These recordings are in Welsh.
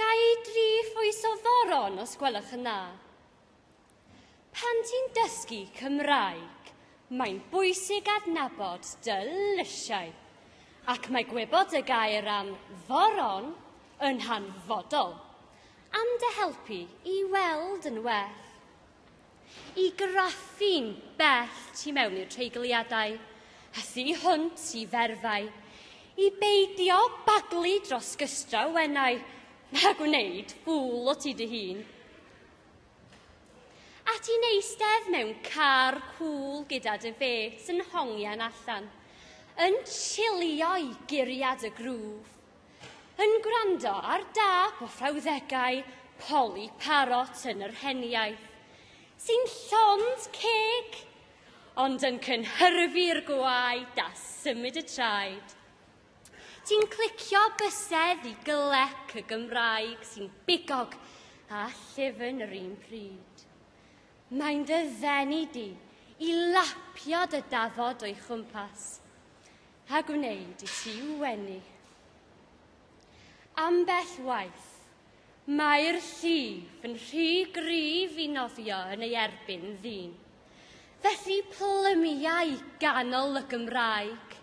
Gai dri phwys o ddoron, os gwelwch yn dda. Pan ti'n dysgu Cymraeg, mae'n bwysig adnabod dy lysiau, ac mae gwybod y gair am ddoron yn hanfodol am dy helpu i weld yn well. I graffu'n bell tu mewn i'r treigliadau, a thu hwnt i ferfau, i beidio baglu dros gystraw wenau, na gwneud fŵl o ti dy hun. A ti'n eistedd mewn car cŵl gyda dy fêts yn hongian allan, yn chilio'i guriad y grŵf, Yn gwrando ar dâp o frawddegau Polly Parrot yn yr heniaith, sy'n llond ceg, ond yn cynhyrfu'r gwaed a symud y traed. Ti'n clicio bysedd i glec y Gymraeg sy'n bigog a llyfn yr un pryd. Mae'n dy ddenu di i lapio dy dafod o'i chwmpas. A gwneud i ti wenu. Ambell waith, mae'r llif yn rhy gryf i nofio yn ei erbyn ddyn. Felly plymiau ganol y Gymraeg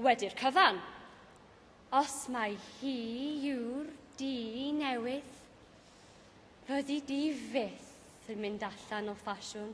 wedi'r cyfan. Os mai hi yw'r di newydd, fyddi di fyth yn mynd allan o ffasiwn.